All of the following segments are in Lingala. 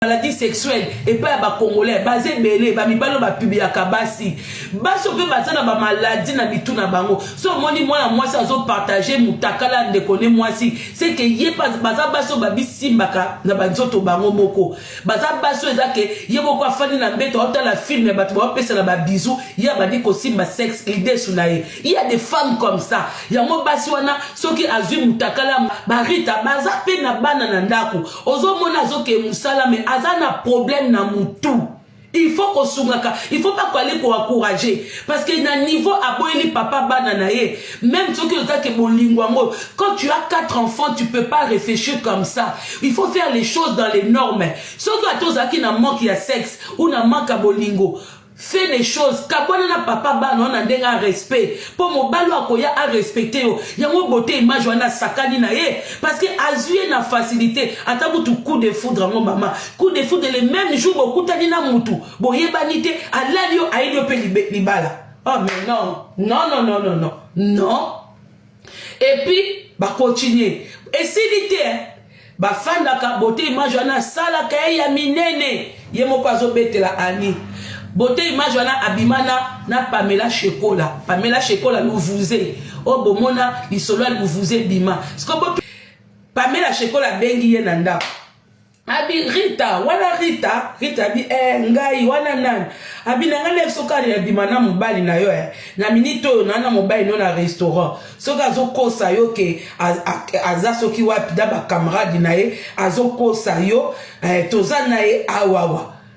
maladie sexuelle epai ya bacongolais baza ebele bamibali oyo bapibliaka basi basi mpe baza na bamaladi na mitu na bango so omoni mwana mwasi azopartage motakala ya ndeko ne mwasi seke ye baza basi oyo babisimbaka na banzoto bango moko baza basi oyo eza ke ye moko afandi na mbeto aotala filme ya bato baopesana babizu ye abandi kosimba sexe lidesu na ye iya de femme comme ça yango basi wana soki azwi motakala barita baza mpe na bana na ndako ozomona azoke mosala me aza na problème na mutu il faut kosungaka il faut pas koale koencourage parce que na niveau aboyeli papa bana na ye même soki ozaki bolingo yango quand tu as quatre enfants tu peux pas réfléchir comme ça il faut faire les choses dans les normes soki ata ozalaki na manque ya sexe ou na manque ya bolingo fait des choses kabwana na papa bana wana ndenge a respect mpo mobali oyo akoya a respecte yo yango bote image wana asakani na ye parce que azwi ye na facilité ata kutu coup de foudre yango mama coup de foudre le même jour bokutani na mutu boyebani te alali yo ayeli yo mpe libala oh mais non non non non non non non et puis ba continuer esili te hein? bafandaka bote image wana asalaka ye ya minene ye moko azobetela ani bote image wana abima na, na pamela shekola pamela shekola luvuze oyo oh, bomona lisolo ya luvuze ebima sikoyo pamela shekola abengi ye na ndako abi rita wana rita rita abi eh, ngai wana nani abi na ngai leki soki abima na mobali na yo eh, na minite oyo naa na mobali no na restaurant soki azokosa yo ke aza soki wapi na bakamarade na ye azokosa yo eh, toza na ye awawa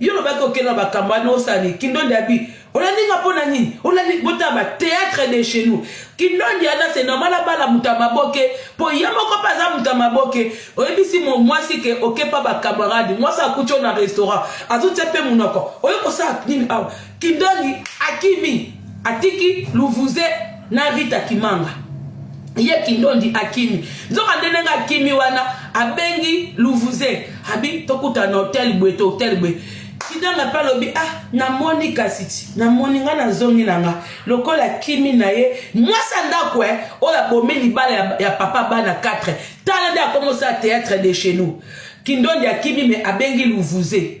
Yo lobaki okende na bakambo wana osani kindondi abi olandi nga mpo na nini olandi botala ba théâtre de chez nous kindondi ata se normal abala moto ya maboke mpo ye moko mpe aza moto ya maboke oyebisi mwasi ke okepa bacamarade mwasi akuti yo na restaurant azotia mpe monoko oye kosala nini awa Kindoli akimi atiki luvuze na Rita Kimanga ye kindondi akimi nzoka nde ndenge akimi wana abengi luvuze abi tokuta na hotel boye to hotel boye kidanga mpe alobi ah namoni kasi ti namoni ngai nazongi na nga lokola kimi na ye mwasi ya ndako e eh, oyo abomi libala ya, ya papa bana 4 tala nde akomosala théâtre de chez nous kindondi akimi me abengi luvuze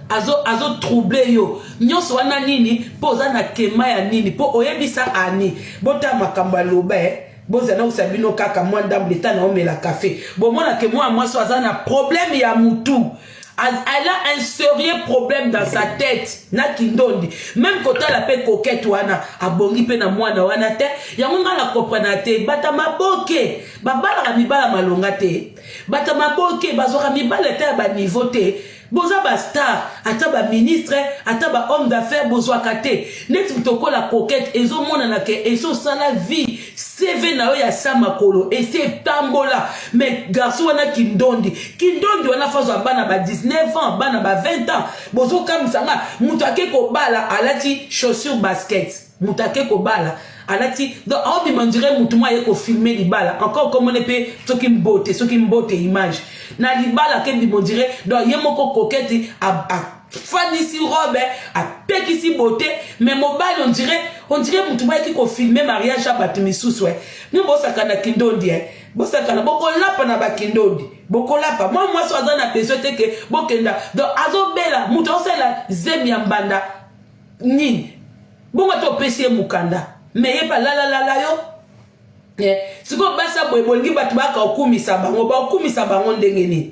azo azo trouble yo nyonso wana nini mpo oza na tema ya nini mpo oyebisa ani botala makambo aloba eh? bozala nausa bino kaka mwa ndambo leta na omela kafe bomona ke mwana mwasi aza na problème ya mutu elle a un sérieux problème dans sa tête na kindondi même kotala mpe kokete wana abongi mpe na mwana wana te yango ngai na comprena te bata maboke babalaka mibala malonga te bata maboke bazwaka mibala ete ya baniveau te Boza ba star ata ba ministre ata ba homme d'affaires bozwaka te neti moto okola coquette ezomonana ke esi osala vie cv na yo ya sa makolo esi etambola me garçon wana kindondi kindondi wana fazwa bana ba 19 ans bana ba 20 ans bozokamwisa nga moto ake kobala alati chaussure basket mutu ake kobala alati donc aobima ondire mutu mo aye kofilme libala encore kombo ne mpe soki mbote soki mbote image na libala ake bima ondire donc ye moko kokete afandisi robe apekisi bote me mobali ondire ondire mutu mo ayaki kofilme mariage ya bato misusu e mi bosakana kindondi e bosakana bokolapa na bakindondi bokolapa mwa mwasi aza na besoin te ke bokenda donc azobela mutu aosalela zemi ya mbanda nini bongo ata opesi ye mokanda me ye balalalala yo eh, sikoyo basa boye bolingi bato baka okumisa bango baokumisa bango ndenge nini